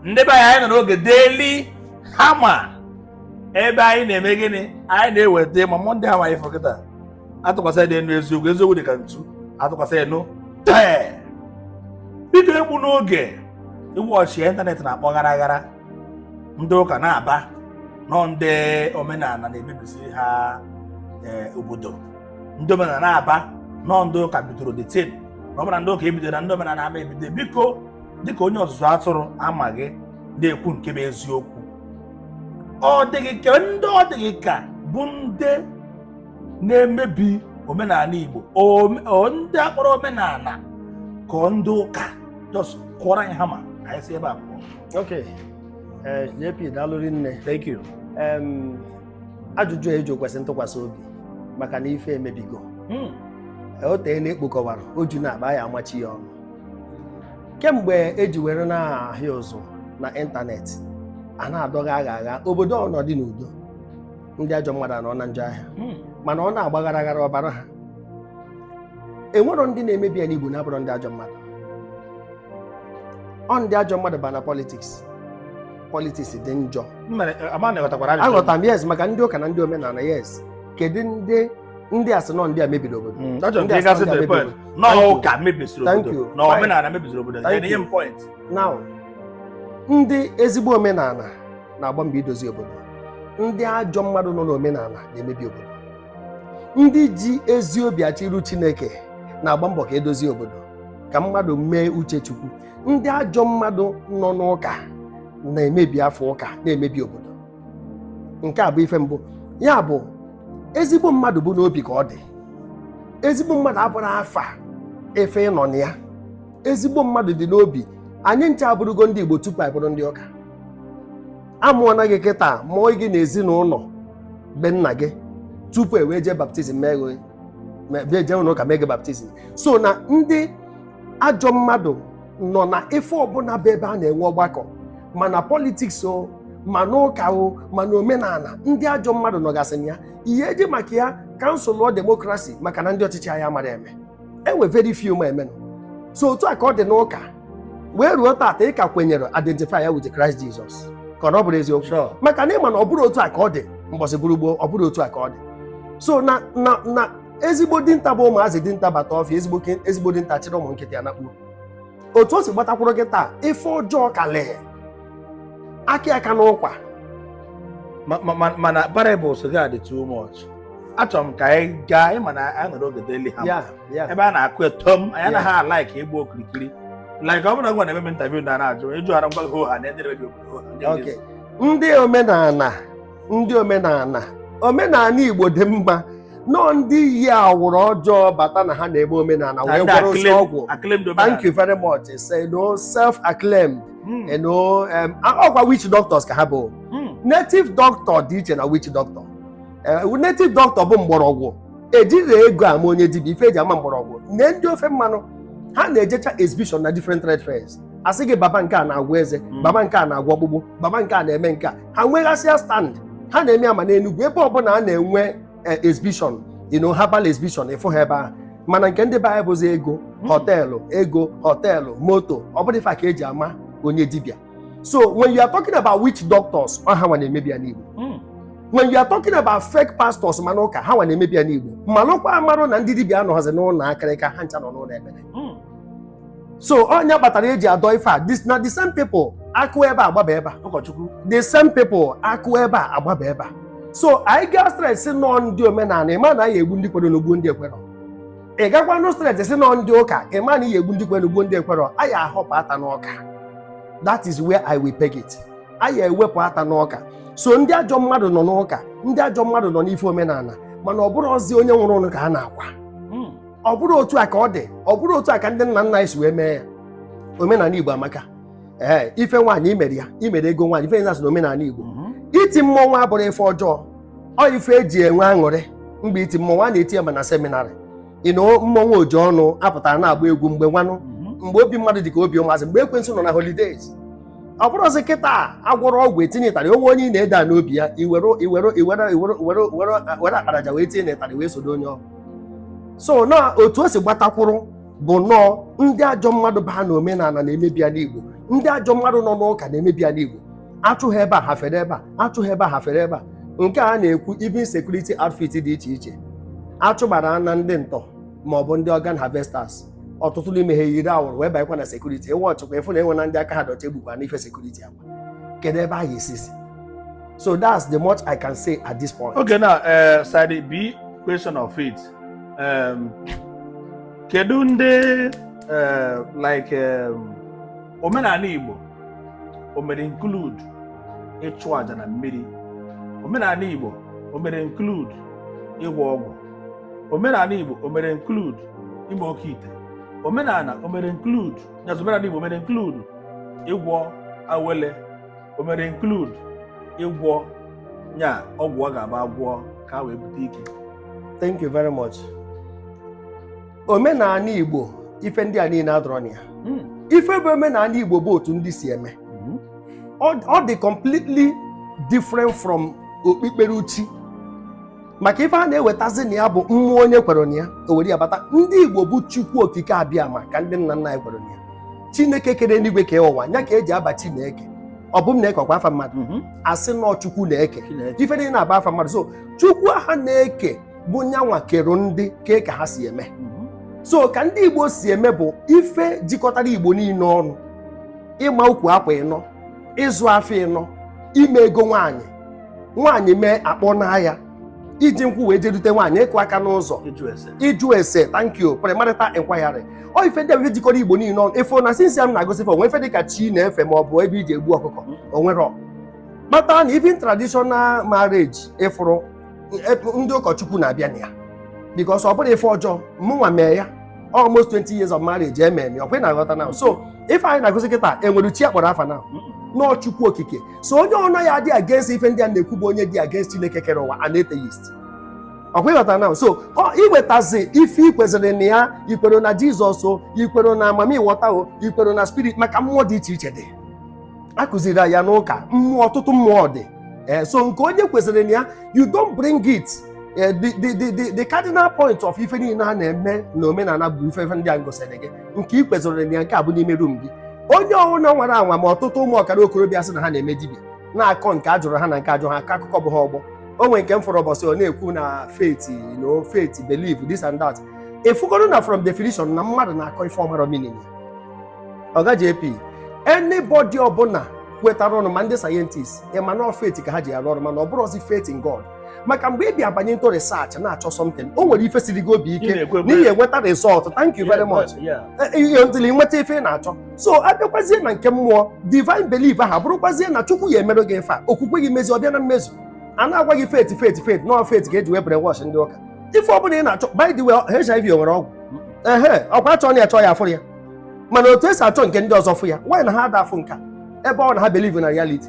ndị be anyị anyị nọ n'oge daily hama ebe anyị na-eme gịnị anyị na-eweta ma mọnde ha anyị fọkịta atụkwasị dị enu eziokwu eziokwu dị ka ntu atụkwasị enu tee biko egbuna oge iwu ọchịa ịntanetị na-akpọ ghara ghara ndị ụka na-aba na ọ ndị omenala na-emebisi ha eh, obodo ndị omenala na-aba na ọ ndị ụka bidoro the thing na ọ bụrụ na ndị ụka ebido na ndị omenala ama ebido biko dịka onye ọzụzụ atụrụ a ma gị na-ekwu nke bụ eziokwu ọ dị gị ka ndị ọ dị gị ka bụ ndị na-emebi omenala Igbo ome- o- ndị a kpọrọ omenala ka ọ ndị ụka just kụọrọ anyị hama ka anyị si ebe a pụọ ok eh, jp daalụri nne thank you Em, ajụjụ a eji kwesị ntụkwasị obi maka na ife emebigo Mm. o teela e kpokọwara o ju n'akpa ya amachi ya ọnụ kemgbe e ji were na-ahịa ụzụ na ịntanetị a na-adọgha agha agha obodo ọ nọdị n'udo ndị ajọ mmadụ anọ na njọ ahịa hmm. mana ọ na-agba ghara ghara ọ baara ha enwero ndị na-emebi ana Igbo na-abụrọ ndị ajọ mmadụ ọ ndị ajọ mmadụ ba na politiks politiks dị njọ aghọtara m yes maka ndị ụka na ndị omenala yes kedu ndị ndị a sị na ọ ndị a mebiri obodo Mm, that's Ndị just a because standard the point. mebiri. Na Thank you. ụka mebisiri Thank obodo. you. Na Fine. omenala mebisiri obodo. Thank Nye you. m point. now ndị ezigbo omenala na-agba mbọ idozi obodo ndị ajọ mmadụ nọ n'omenala na-emebi obodo ndị ji ezi obi achọ iru chineke na-agba mbọ ka e dozie obodo ka mmadụ mee uche chukwu ndị ajọ mmadụ nọ n'ụka na-emebi afa ụka na-emebi obodo nke a bụ ife mbụ ya bụ ezigbo mmadụ bụ n'obi ka ọ dị ezigbo mmadụ abụrọ afa ife ị nọ na ya ezigbo mmadụ dị n'obi anyị ncha abụrụgo ndị Igbo tupu anyị bụrụ ndị ụka a mụọna gị kịta mụọ gị na ezinụlọ be nna gị tupu e wee jee baptizim mee jee ụlọ ụka mee gị baptizim so na ndị ajọ mmadụ nọ na ife ọbụla bụ ebe a na-enwe ọgbakọ ma na politiks o ma n'ụka o ma na omenala ndị ajọ mmadụ nọgasị na ya ihe e ji maka ya kansụlụọ demokrasi maka na ndị ọchịchị anyị amarọ eme e nwee very few ma emenụ so otu a ka ọ dị n'ụka wee ruo taata ị ka kwenyere identify ya with Christ Jesus ka ọ bụrọ eziokwu Sure. maka na ị ma na ọ bụrọ otu a ka ọ dị mbọsị bụrụ gboo ọ bụrọ otu a ka ọ dị so na na na ezigbo dinta bụ ụmụazị dinta bata ọfịa ezigbo ke- ezigbo dinta chịrị ụmụ nkịta ya nakpuo otu o si gbatakwuru kịta ife ọjọọ ka lee aka aka n'ụkwa Ma- ma- ma- mana parables gị adị too much achọrọ m ka anyị gaa ịma na anyị nọrọ oge daily hammer ya ya ebe a na-akụ etom anyị anaghị alaiki ịgba okirikiri like ọ bụla gwa na eme interview na na-ajụ ịjụ ara ngwa gị oha na edere gị obodo oha ndị Okay. ndị omenala ndị omenala omenala igbo dị mma nọọ ndị yi awụrụ ọjọọ bata na ha na-eme omenala wee Ndị gwọrọ osi acclaimed- ọgwụ acclaimed thank omenala. you very much say no self acclaimed Mm, you know um, ọkwa witch doctors ka ha bụ mm. native doctor dị iche na witch doctor Eh, native doctor bụ mgbọrọgwụ ejirọ ego ama onye dibịa ife eji ama mgbọrọgwụ nee ndị ofe mmanụ ha na-ejecha exhibition na different trade fairs asị gị baba nke a na-agwọ eze Mm. baba nke a na-agwọ ọkpụkpụ baba nke a na-eme nke a ha nweghasịa stand ha na-eme ya ma n'enugwu ebe ọbụla a na-enwe eh, exhibition you know herbal exhibition ị fụ ha ebe ahụ mana nke ndị be anyị bụzi ego hmm. họteelụ ego họteelụ moto ọ bụrụ ife ka eji ama onye dibịa so when you are talking about witch doctors ọ ha nwa na-emebi ana igbo hmm. when you are talking about fake pastors ma n'ụka ha nwa na-emebi ana igbo malụkwa amalụ na ndị dibịa anọghọzi n'ụlọ akịrịka ha ncha nọ n'ụlọ ekpere hmm. so onye kpatara eji adọ ife a this na the same people akụ ebe a agbaba ebe a ụkọchukwu the same people akụ ebe a agbaba ebe a so anyị gaa stress sị na ọ ndị omenala ịma na anyị egbu ndị kwere n'ogbu ndị ekwerọ ị gakwanụ stress sị na ọ ndị ụka ịma na anyị egbu ndị kwere n'ogbu ndị ekwerọ anyị ahọpụ ata n'ọka that is where i will peg it anyị ewepụ ata n'ọka so ndị ajọ mmadụ nọ n'ụka ndị ajọ mmadụ nọ n'ife omenala mana ọ bụrọzi onye nwụrụ anwụ ka a na-akwa ọ bụrọ otu a ka ọ dị ọ bụrọ otu a ka ndị nna nna anyị si wee mee ya omenala igbo amaka ee ife nwaanyị imere ya imere ego nwaanyị ife na-asị na omenala igbo mhm. iti mmọnwụ abụrọ ife ọjọọ ọ ife eji enwe aṅụrị mgbe iti mmọnwụ a na-eti ya ma na seminarị ịnụ mmọnwụ oji ọnụ apụtara na-agba egwu mgbe nwanụ mhm. mgbe obi mmadụ dị ka obi ụmụazị mgbe ekwensu nọ na holidays ọ bụrọzi kịta agwọrọ ọgwụ etinye ịtarị o nwee onye ị na-ede a n'obi ya iwere iwere iwere iwere iwere akparaja wee tinye na ịtarị wee sodo onye ọgwụ so na otu o si gbatakwụrụ bụ nọọ ndị ajọ mmadụ baa na omenala na-emebi ala igbo ndị ajọ mmadụ nọ n'ụka na-emebi ala igbo achụ ha ebe a ha fere ebe a achụ ha ebe a ha fere ebe a nke a na-ekwu even security outfit dị iche iche achụgbara na ndị ntọ ma ọ bụ ndị organ harvesters ọtụtụ n'ime ha yiri awụrụ wee banyekwa na sekuriti ewe ọchịkwa efu na enwe na ndị aka ha dị ọcha egbukwa n'ife sekuriti ahụ kedu ebe anyị esisi so that's the much i can say at this point okay now uh, side b question of faith um, kedu ndị uh, like um, omenala igbo o mere include ịchụ aja na mmiri omenala igbo o mere include ịgwọ ọgwụ omenala igbo o mere include ime oke ite omenala o mere include nya omenala Igbo mere include ịgwọ awele o mere include ịgwọ nya ọgwụ ọ ga-agba agwọ ka wee bute ike thank you very much omenala Igbo ife ndị a niile adịrọ na ya hmm. ife bụ omenala Igbo bụ otu ndị si eme hmm. ọ dị completely different from okpukperechi maka ife a na-ewetazi na ya bụ mmụọ onye kwere na ya o were ya bata ndị Igbo bụ Chukwu Okike Abịama ka ndị nna nna anyị kwere na ya Chineke kere eluigwe kee ụwa nya ka eji aba Chineke ọ bụ m na-eke ọkwa afa mmadụ mhm. a sị na ọ Chukwu na-eke ife niile na-aba afa mmadụ so Chukwu ahụ na-eke bụ nyanwa kere ndị kee ka ha si eme mhm. so ka ndị Igbo si eme bụ ife jikọtara Igbo niile ọnụ ịma ukwu akwa ịnọ ịzụ afọ ịnọ ime ego nwaanyị nwaanyị mee a kpọnaa ya iji nkwụ wee je dute nwaanyị ịkụ aka n'ụzọ ịjụ ese ịjụ ese thank you premarital inquiry ọ ife ndị bụ ife jikọrọ igbo niile ọnụ ị fụ na since m na-agụsị ife o nwee ife dịka chi a na-efe ma ọ bụ ebe eji egbu ọkụkọ o nwerọ kpata na even traditional marriage ị fụrụ e- ndị ụkọchukwu na-abịa na ya because ọ bụrọ ife ọjọọ mụnwa mee ya almost 20 years of marriage eme eme ọ bụrụ na aghọta na so ife anyị na-agụsị kịta enwerọ chi akpọrọ afa naanị ọ chukwu okike so onye ọnụ ya dị against ife ndị a na-ekwu bụ onye dị against Chineke kere ụwa an atheist ọkwa ịghọta na so iwetazi ife ikweziri na ya ikwere na Jizọs o ikwere na mamịwọta o ikwere na spirit maka mmụọ dị iche iche dị akụziri ya n'ụka mmụọ ọtụtụ mmụọ dị eh, so nke onye kweziri na ya you don't bring it eh, the cardinal point of ife niile a na-eme na omenala bụ ife ndị a m gụsịrị gị nke ị kweziri na ya nke a bụ n'ime rum gị onye ọbụla nwere anwa ma ọtụtụ ụmụ ọkara okorobịa sị na ha na-eme dibịa na-akọ nke a jụrụ ha na nke ajụrọ ha akọ akụkọ bụ ha ọgbọ o nwere nke m fụrụ ụbọsị ọ na-ekwu na faith you know faith belief this and that ị fụgoro na from definition na mmadụ na-akọ ife ọ marọ meaning ya ọga jp anybody ọbụla kwetara ọnụ ma ndị sayentist ịma na ọ faith ka ha ji arụ ọrụ mana ọ bụrụzi faith in god maka mgbe ị bịa banye into research na-achọ something o nwere ife siri gị obi ike na ị ya enweta result thank you very much ehe until i nweta ife ị na-achọ so abịakwazie na nke mmụọ divine belief aha bụrụkwazie na chukwu ya emerụ gị ife a okwukwe gị mezi ọbịa na mmezu a na-agwa gị faith faith faith no faith ka eji wee brainwash ndị ụka ife ọbụla ị na-achọ by the way HIV o nwere ọgwụ ehe ọkwa achọ na ya chọọ ya afụrọ ya mana otu esi achọ nke ndị ọzọ fụ ya why na ha ada afụ nke a ebe ọ na ha believe na reality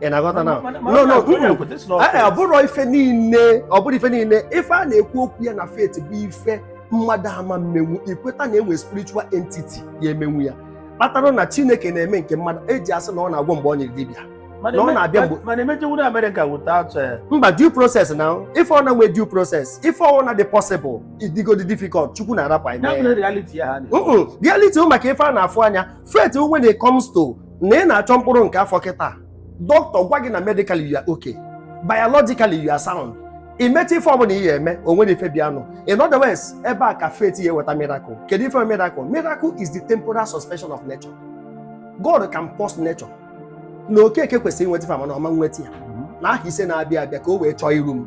ị na-aghọta na no no ọ bụrọ ife niile ọ bụrọ ife niile ife a na-ekwu okwu ya na faith bụ ife mmadụ ama mmenwu ikweta na enwe spiritual entity ya emenwu ya kpatara na chineke na-eme nke mmadụ eji asị na ọ na-agwọ mgbe ọ nyịrị dibịa na ọ na-abịa mgbe mana emejewuru Amerịka without eh, mba due process na ife ọ na-enwe due process ife ọ na dị possible ọ dịgodi difficult chukwu na-arapụ anyị reality ụmụ maka ife a na-afụ anya faith when it comes to na ị na-achọ mkpụrụ nke afọ kịta doctor gwa gị na medically you are okay biologically you are sound i mecha ife ọbụla ị ya eme o nwerọ ife bịanụ in other words ebe a ka faith ya eweta miracle kedu ife miracle miracle is the temporal suspension of nature God can pause nature na okeke kwesịrị inweta ife mana ọ ma nweta ya na accident na-abịa abịa ka o wee chọọ iru m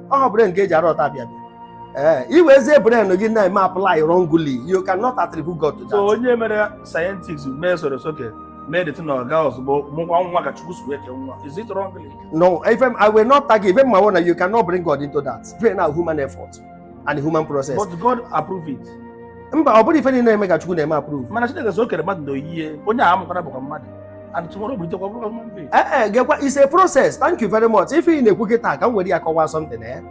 ọ brain ka eji arụ ọta bịa bịa ee iwezie brain gị na-eme apply wrongly you cannot attribute God to that so onye mere scientists mee soro soke mee dịtụ na ọga ozugbo mụkwa nwa ka chukwu si wee kee nwa is it wrong no if I'm- I will not tag even my own you cannot bring God into that bring na human effort and human process but god approve it mba ọ bụrọ ife niile na-eme ka Chukwu na-eme approve mana chineke sị o kere mmadụ na oyiye onye a amụkwara bụkwa mmadụ and tomorrow bụ itekwa bụrụ mmadụ. ee eh, eh, gekwa it's a process thank you very much ife ị na-ekwu kịta ka m were ya kọwaa something eh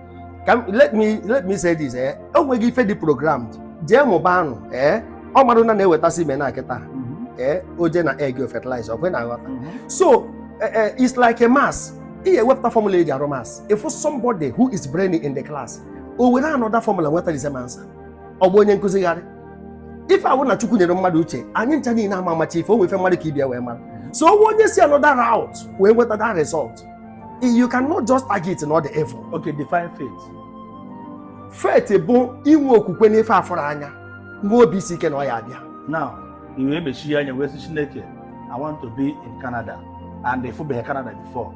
ka let me let me say this eh o nweghị ife dị programmed jee mụba anụ eh ọ marụ na na-eweta semen a kịta mhm. eh o jee na egg fertilize ya ọkwa ị na-aghọta mhm. so eh, eh, it's like a maths ị ewepụta formula eji arụ maths if somebody who is brainy in the class o were another formula nweta the same answer ọ gbaa onye nkụzi gharịị ife a wụ na chukwu nyere mmadụ uche anyị ncha niile ama amacha ife o nwe ife mmadụ ka ibe ya wee mara so o nwee onye si another route wee nweta that result you cannot just tag it na ọ dị evil Okay, define faith. faith bụ inwe okwukwe n'ife afụrọ anya nwee obi isi ike na ọ ya abịa Now, i wee mechie anya wee sị Chineke, I want to be in Canada and ịfụbeghị Canada before.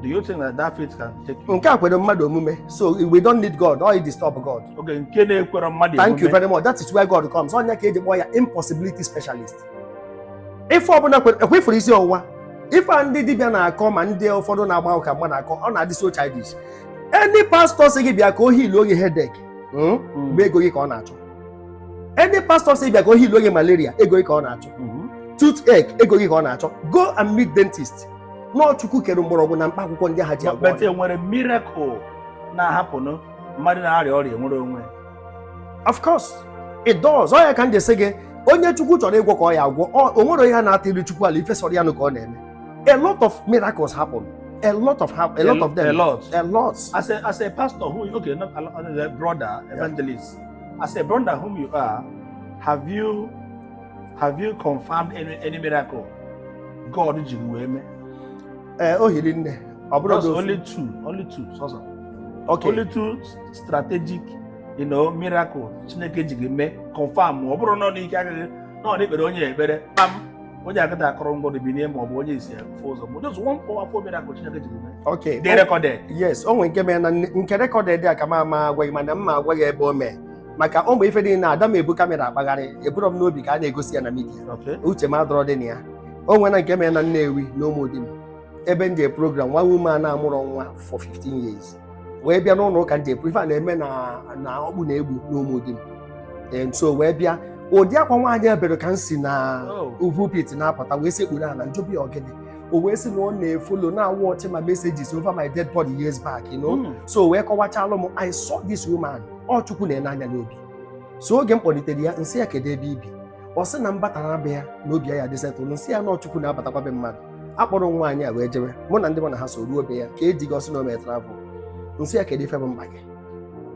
Do you think that that faith can take you? nke a kwere mmadụ omume so we don't need god or disturb god Okay, nke na-ekwerọ mmadụ thank you omume. very much that is where god comes ọ ya ka eji kpọọ ya impossibility specialist ife ọbụla kwere- ekwe ị fụrụ isi ọwụwa ife a ndị dibịa na-akọ ma ndị ụfọdụ na-agba ụka mgbe na-akọ ọ na-adị so childish any pastor sị gị bịa ka ọ healụọ gị headache mm, Mm. mgbe ego gị ka ọ na-achọ any pastor sị gị bịa ka ọ healụọ gị malaria ego gị ka ọ na-achọ Mhm. toothache ego gị ka ọ na-achọ go and meet dentist na ọ chukwu kere mgbọrọgwụ na mkpa akwụkwọ ndị ha ji agwọ but e nwere miracle na-ahappen nụ mmadụ na-arịa ọrịa nwere onwe of course it does ọ ya ka m ji sị gị onye chukwu chọrọ ịgwọ ka ọ ya agwọ o nwere onye na-atụrụ chukwu alo ife sọrọ ya nụ ka ọ na-eme a lot of miracles happen a lot of ha a lot of them a lot a lot as a as a pastor who okay not a brother evangelist yeah. as a brother whom you are have you Have you confirmed any, any miracle God ji wee mee? Ee, eh, o hiri nne. Ọ bụrụ na only two, only two sọsọ. Okay. Only two strategic, you know, miracle Chineke ji gị mee confirm ọ bụrụ na n'ike agaghị na ọ na-ekpere onye ekpere kpam onye agaghị kụrụ ngwọrọ binye ma ọ bụ onye isi afụ ụzọ but just one powerful miracle Chineke ji gị mee. Okay. Dị recorded. Yes, o nwere nke mere na nke recorded a ka m ama agwa gị mana m ma agwa gị ebe o mee. maka ụmụ ife dị na ada m ebu camera akpagharị eburọ m n'obi ka a na-egosi ya na media uche m adịrọdị na ya o nwere nke mere na Nnewi na Ụmụdim ebe m je program nwa woman a na-amụrọ nwa for 15 years wee bịa n'ụlọ ụka nje ife a na-eme na Okpuno Egbu na Ụmụdim so wee bịa ụdị akwa nwaanyị a bere ka m si na oh. pulpit na-apụta wee sekpuru ala m jụọ ọ bụ ọ gịnị o wee sị na ọ na-efollow na-awatch my messages over my dead body years back you know hmm. so wee kọwachalụ m I saw this woman ọ chukwu na-ene anya n'obi so oge m kpọlitere ya nsị ya kedu ebe i bi ọ sị na m batara be ya na obi ya ya-adị settle nsị ya na ọ chukwu na-abatakwa be mmadụ a kpọrọ nwaanyị a wee jewe mụ na ndị mụ na ha so ruo be ya kee di gị ọ sị na o mee travel nsị ya kedu ife bụ mkpa gị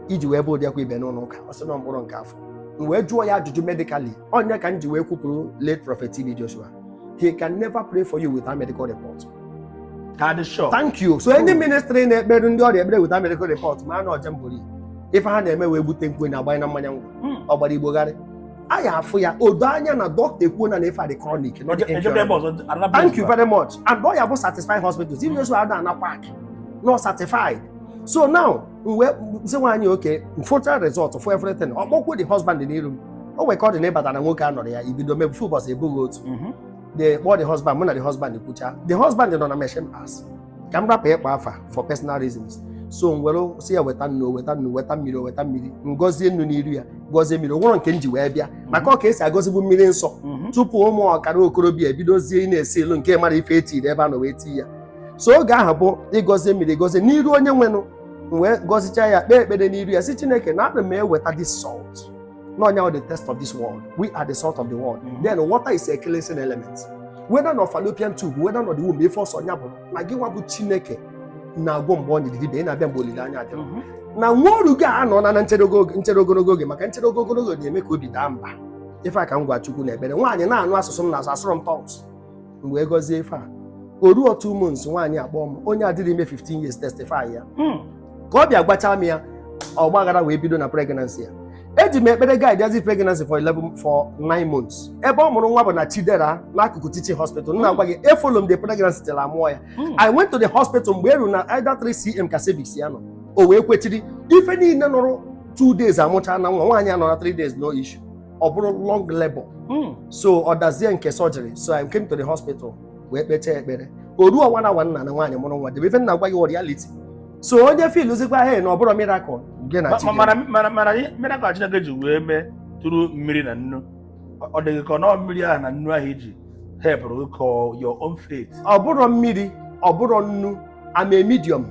i ji wee bee ụdị akwa i be n'ụlọ ụka ọ sị na mkpụrụ nke afọ m wee jụọ ya ajụjụ medically ọ ya ka m ji wee kwupụrụ late prophet TB Joshua he can never pray for you without medical report. Ka sure. Thank you. So any ministry na-ekpere ndị ọrịa ekpere without medical report ma na ọ jamboree ife ha na-eme wee bute nke a na-agbanye na mmanya nkwụ hmm. ọ gbara Igbo gharị a ya afụ ya odo anya na dọkịta ekwuo na na ife a dị chronic thank you very much and ọ ya bụ certified hospitals TB Joshua ada anakwa not certified so now m wee sị nwaanyị okay m fụcha result fụ everything ọ kpọkuo the husband n'iru m o nwere ka ọ dị na ịbata na nwoke a nọrọ ya ibido mebufe ụbọchị ebughị otu mhm. the kpọọ the husband mụ na the husband kwucha the husband nọ na machine parts ka m rapụ ịkpa afa for personal reasons so m wee sị ya weta nnu weta nnu weta mmiri weta mmiri ngọzie nnu n'iru ya gọzie mmiri o nwerọ nke m ji wee bịa mhm. maka ọ ka e si agọzibu mmiri nsọ mhm. tupu ụmụ ọkara okorobịa ebidozie ịna-esell nke a marọ ife e tiri ebe a nọ wee tii ya so oge ahụ bụ ị gọzie mmiri gọzie n'iru onye nwenụ m wee gọzicha ya kpee ekpere n'iru ya sị chineke nna ana m eweta this salt na ọ nya the taste of this world we are the salt of the world Mhm. then water is a cleansing element whether na fallopian tube whether na the womb ife ọ sọ nya bụ na gị nwa bụ chineke na-agwọ mgbe ọ nyịrị dibịa ị na-abịa mgbe olileanya adịrọ Mhm. na nwa oru gị anọ na na nchere ogo- nchere ogologo oge maka nchere ogologo oge na-eme ka obi daa mba ife a ka m gwa chukwu na ekpere nwaanyị na-anụ asụsụ m na-asụ asụrọ m tongues m wee gọzie ife a o ruo two months nwaanyị akpọọ m onye adịrọ ime 15 years testify ya Hmm. ka ọ bịa gwachaa m ya ọgbaghara wee bido na pregnancy ya eji m ekpere guidezi pregnancy for 11 for 9 months ebe ọ mụrụ nwa bụ na chidera n'akụkụ teaching hospital m na-agwa gị efollow m the pregnancy till a mụọ ya Hmm. i went to the hospital mgbe eru na either 3 cm ka cervix ya nọ o wee kwechiri ife niile nọrọ 2 days amụchaa na nwa nwaanyị anọrọ 3 days no issue ọ bụrụ long labour hmm. so ọ dazie nke surgery so I came to the hospital wee kpechaa ekpere o ruo one hour nna na nwaanyị mụrụ nwa debe ife m na-agwa gị reality so onye feelụzikwa he na ọ bụrụ miracle gị na chi miracle Chineke ji wee mee tụrụ mmiri na nnu ọ dịghị ka ọ nọọ mmiri ahụ na nnu ahụ iji help your own faith ọ bụrọ mmiri ọ bụrọ nnu I'm a medium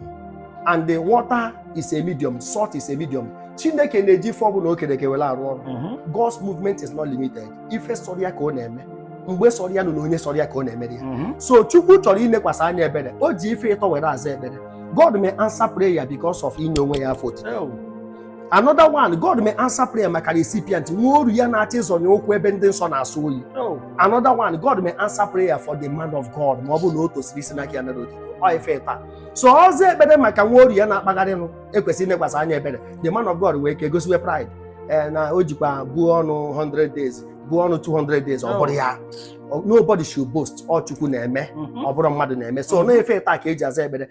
and the water is a medium, salt is a medium. Chineke na-eji ife ọbụla o kere eke were arụ ọrụ. Mhm. God's movement is not limited. Ife sọrọ ya ka ọ na-eme. Mgbe sọrọ ya nụ na onye sọrọ ya ka ọ na-emere ya. Mhm. So Chukwu chọrọ inekwasị anya ebere. O ji ife ịtọ were aza ekpere. God may answer prayer because of inye onwe ya afọ otuto. Ew. another one god may answer prayer maka recipient nwa oru ya na-achọ ịzọnye ụkwụ ebe ndị nsọ na-asọ oyi oh. another one god may answer prayer for the man of god ma ọ bụ na o tosiri isi n'aka ya nara otito ọ ife ịtọ a so ọ zaa ekpere maka nwa oru ya na-akpagharịnụ ekwesịrị inekwasị anya ebere the man of god wee ke gosiwe pride eh, na o jikwa buo ọnụ 100 days buo ọnụ 200 days ọ oh. bụrọ ya nobody should boast ọ chukwu na-eme mm-hmm. ọ bụrọ mmadụ na-eme so mm-hmm. ọ ife ịtọ a ka e ji aza ekpere